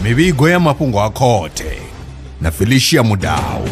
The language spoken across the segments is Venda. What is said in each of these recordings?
mivhigo ya mafhungo a khothe na felicia mudau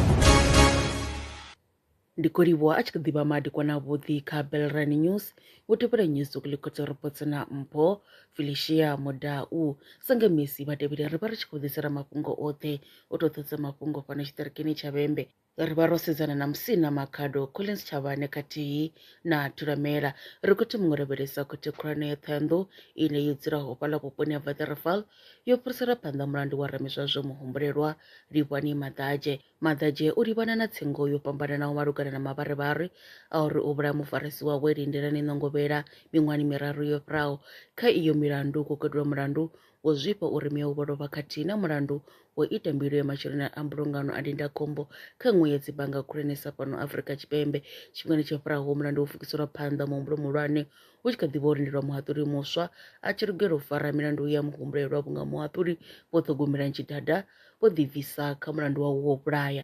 ndi khou livhuwa a tshi khou ḓivha madekwana avhuḓi kha belrani news wo tevhela news ukulikotso ropotsho na mpho felicia mudau sange misi vhatevheli ri vha ri tshi khou ḓisela mafhungo oṱhe o to ṱhodza mafhungo fhano tshiṱirikini tsha vhembe ri vha ro sedzana na musina makhado collins tshavhane khathihi na thulamela ri khou thoma u lavhelesa khothe khulwane ya ṱhoyandou ine yo dzulaho fhaḽa vhuponi ha vatheraval yo fhirisela phanḓa mulandu wa ramizwazwo muhumbulelwa livhani maḓadzhe maḓadzhe u livhana na tsengo yo fhambananaho malugana na mavharivhari a uri u vhulaya mufarisi wawe lindelani ṋongovhela miṅwahani miraru yo fhiraho kha iyo milandu kwo katelwa mulandu wo zwifha uri muya u vholovha khathihi na mulandu wo ita mbilo ya masheleni a mbulungano a ndindakhombo kha nngwe ya dzibannga khulwanesa fhano Afrika Tshipembe tshifhingani tsho fhiraho mulandu wo fukiselwa phanḓa muhumbulo muhulwane hu tshi kha ḓi vha ho lindelwa muhaṱuli muswa a tshi lugela u fara milandu ya muhumbulelwa vhunga muhaṱuli vho ṱhogomelani tshidada vho ḓibvisa kha mulandu wawe wo vhulaya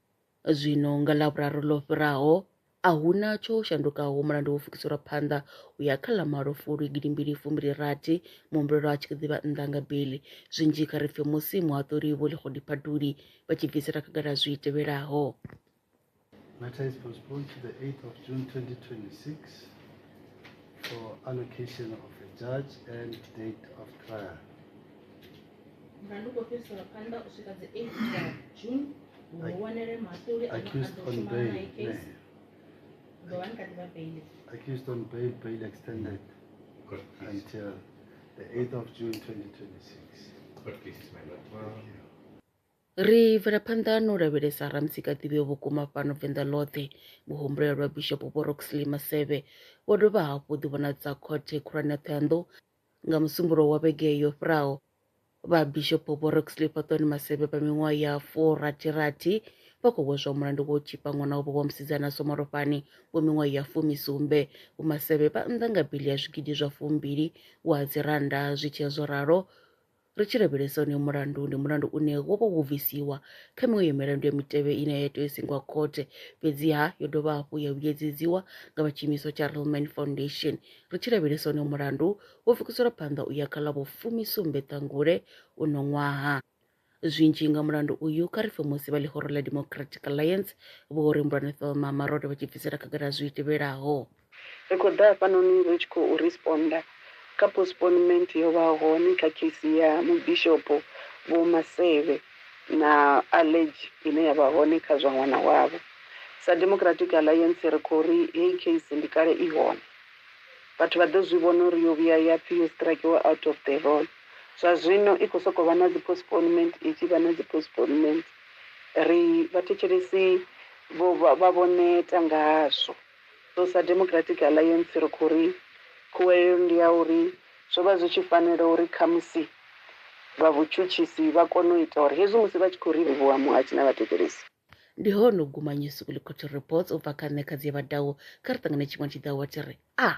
Zwino nga Ḽavhuraru ḽo fhiraho, a hu na tsho shandukaho, mulandu wo fukiselwa phanḓa u ya kha ḽa malo Fulwi gidi mbili fumbili rathi, muhumbulelwa a tshi khou ḓivha nnḓa nga beli. Zwinzhi kha ri pfe musi muhaṱuli Vho Lekgodi-Phatuli vha tshi bvisela khagala zwi tevhelaho. Matter is postponed to the 8th of June 2026 for allocation of a judge and date of trial. Accused on bail, bail extended until the 8th of June 2026. Court cases, my lord. ri bvela phanḓa no lavhelesa ramusika ḓivheo vhukuma fhano venḓa ḽoṱhe muhumbulela lwa bishopo vho roxley maseve vho dovha hafhu ḓivhonadza khothe khulwane ya ṱhoyandou Nga musumbulowo wa vhege yo fhiraho, Vhabishopo Vho Roxley Fhaṱoni Masebe vha miṅwaha ya furathirathi vha khou hweswa mulandu wa u tzhipa ṅwana wavho wa musidzana Somalofhani wa miṅwaha ya fumi sumbe. Vho Masebe vha nnḓa nga biḽi ya zwigidi zwa fumbili wa dzirannda zwi tshee zwo ralo Ri tshi lavhelesa honoyo mulandu ndi mulandu une wo vha wo bvisiwa kha miṅwe ya milandu ya mitevhe ine ya tea u singwa khothe fhedziha yo dovha hafhu ya vhuyedzedziwa nga vha tshiimiswa tsha Relman Foundation. Ri tshi lavhelesa honoyo mulandu wo pfukiselwa phanḓa u ya kha ḽa vhufumi-sumbe Ṱhangule uno ṅwaha. Zwinzhi nga mulandu uyu kha ri pfe musi vha ḽihoro ḽa Democratic Alliance Vho Rembulani Thelma Marode vha tshi bvisela khagala zwi tevhelaho. Ri khou ḓa hafhanoni ri tshi khou responda kha postponement yo vha hone kha case ya Mubishopo Vho Maseve na allergy ine ya vha hone kha zwa ṅwana wavho. Sa Democratic Alliance ri khou ri heyi case ndi kale i hone. Vhathu vha ḓo zwi vhona uri yo vhuya ya pfi yo strakiwa out of the roll. Zwa zwino i khou sokou vha na dzi postponement i tshi vha na dzi postponement. Ri vhathetshelesi vho vha vho neta ngazwo. Sa Democratic Alliance ri khou ri khuwelelo ndi ya uri zwo vha zwi tshi fanela uri khamusi vha vhutshutshisi vha kone u ita uri hezwi musi vha tshi khou ri livhuwa Muhasho na Vhathetshelesi, Ndi hone u guma New School Quality Reports u bva kha nṋe Khadzie Vhadau kha ri ṱangane tshiṅwe tshiḓaho wa tshi ri, Ah!